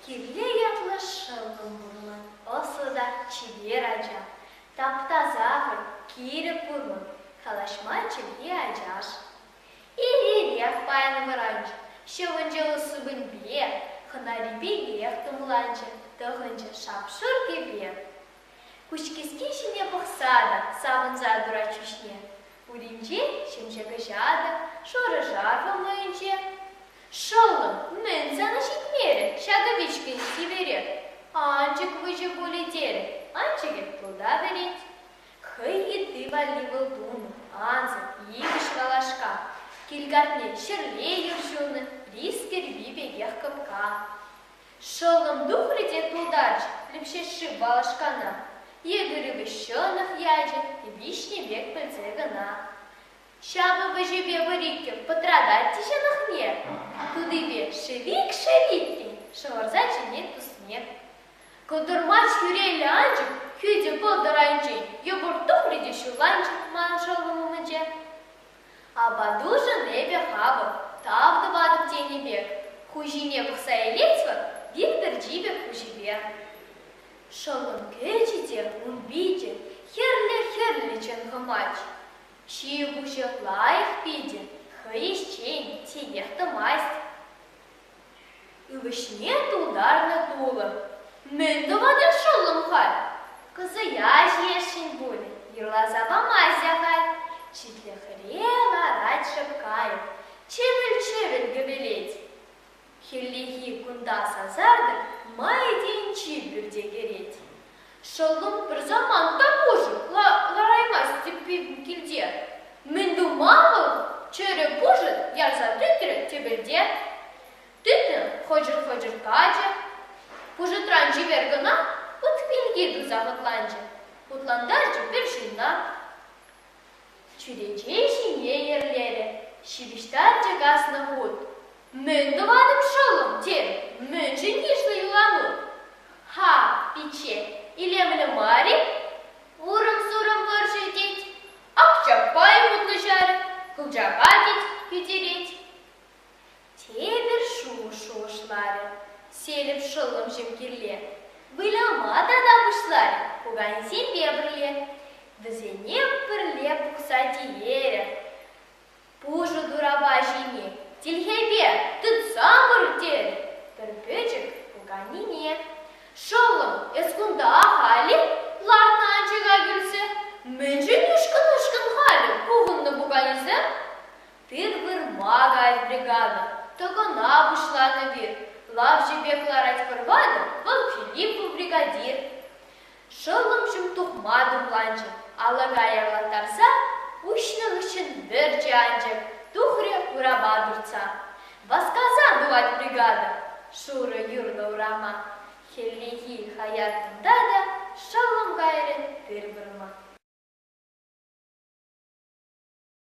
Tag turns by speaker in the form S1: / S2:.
S1: Киле ятлӑ шӑллӑм пурӑнать, ӑслӑ та чипер ача. Тапта сахӑр, кирӗк пурлӑх, калаҫма чӗлхи ачаш. Иререх паян вӑранчӗ, ҫӑвӑнчӗ лӑссупӑньпе, хӑнарипелех тумланчӗ, тӑхӑнчӗ шап-шур кӗпе. Куҫкӗски ҫине пӑхса та савӑнса турать ҫӳҫне, уринче ҫемҫе кӑҫатӑ, шӑрӑ-шарфӑ мӑйӗнче. Шӑллӑм, мӗн сана ҫитмерӗ ҫакӑ вичкӗн чиперех? Анчӑк выҫӑ пулӗ терӗ, анчӑкӗ тулта вӗрет. Хӑй йытти валли вӑл тунӑ ансӑр икӗш валашка, килкартне ҫӗрле юр ҫунӑ рис кӗрпи пекех кӑпка. Шӑллӑм тухрӗ те тултарчӗ Лӗпҫешши балашкана. Етӗр ывӑҫҫӑнӑх ячӗ виҫнӗ пек пӗлсе кӑна. Ҫавӑ вӗҫӗпе пӗр-иккӗ пӑтратать те ҫӑнӑхне, тутипе шӗвик-шӗв иккен, шӑвӑрса чӗнет тусне. Кӑтӑрмач хӳреллӗ анчӑк хӳтӗ пӑлтӑр айӗнчен йӑпӑрт тухрӗ те ҫулланчӗ ман шӑллӑм умӗнче. Апатушӑн эпӗ хапӑп, тав тӑватӑп тенӗ пек хуҫине пӑхса илетпӗр вил пӗрчи пек хуҫипе. Шӑллӑм кӗчӗ те ун пичӗ хӗрлӗ-хӗрлӗ чӑн хӑмать. Ҫи-пуҫӗ лайӑх питӗ, хӑй ӗҫчен, тинех тӑмасть. Ывӑҫне тултарнӑ тулӑ. Мӗн тӑватӑр шӑллӑм халь? Кӑсӑя ҫиесшӗн пуль, юрласа памасть ахаль. Читлӗхре ларать шӑпкайӑк, чӗвӗл-чӗвӗл гӗпелет. Хӗллехи кунта сасартӑк май тенчи пӳрте кӗрет. Шӑллӑм пӗр самант та пуҫӗ лараймасть сиппин килте. Мӗн тума вӑл? Чӗрӗ пушӑт ярса тытрӗ тӗпелте. Тытрӑм, хӑчӑр-хӑчӑр качӗ. Пушӑтран чипер кӑна ут пинки туса хӑтланчӗ. Хутлантарчӗ пӗр ҫынна. чӳрече ҫине йӗрлерӗ ҫыпӑҫса чӑкаснӑ хут. «Мӗн тӑватӑп, шӑллӑм, тен, мӗншӗн йышлӑ юлану? Ха, пичче, илемлӗ мар-и? Урӑм-сурӑм вӑрҫӑ тет, Акчапай вутнӑҫать, Кӑлчака тет, хӳтерет. Тепӗр шухӑш шухӑшларӗ Селӗп шӑллӑм ҫемкилле. Выляма тата пуҫларӗ пукансемпе пӗрле. Вӗсене пӗрле пухса тиверӗ. Пушӑ турапа ҫине тилхепе тытса пыр терӗ пӗр пӗчӗк пуканине. Шӑллӑм, эс кунта халӗ? лартнӑ анчӑка кӳлсе. Мӗншӗн ушкӑн-ушкӑн халӗ пухӑннӑ пуканесем? Пир вырма кайрӗ бригада. Тӑкӑна пуҫланӑ пир. Лавҫӑ пек ларать пӑрванӗ, вӑл Филиппов бригадир. Шӑллӑмҫӑм тухма тумланчӗ. Алӑка явӑрттарса уҫнӑ хыҫҫӑн вӗрчӗ анчӑк, тухрӗ урапа туртса. Васкасан тухать бригада. Шурӑ юрлӑ урама. Хӗллехи хаяр кунта та шӑллӑм кайрӗ пир вырма.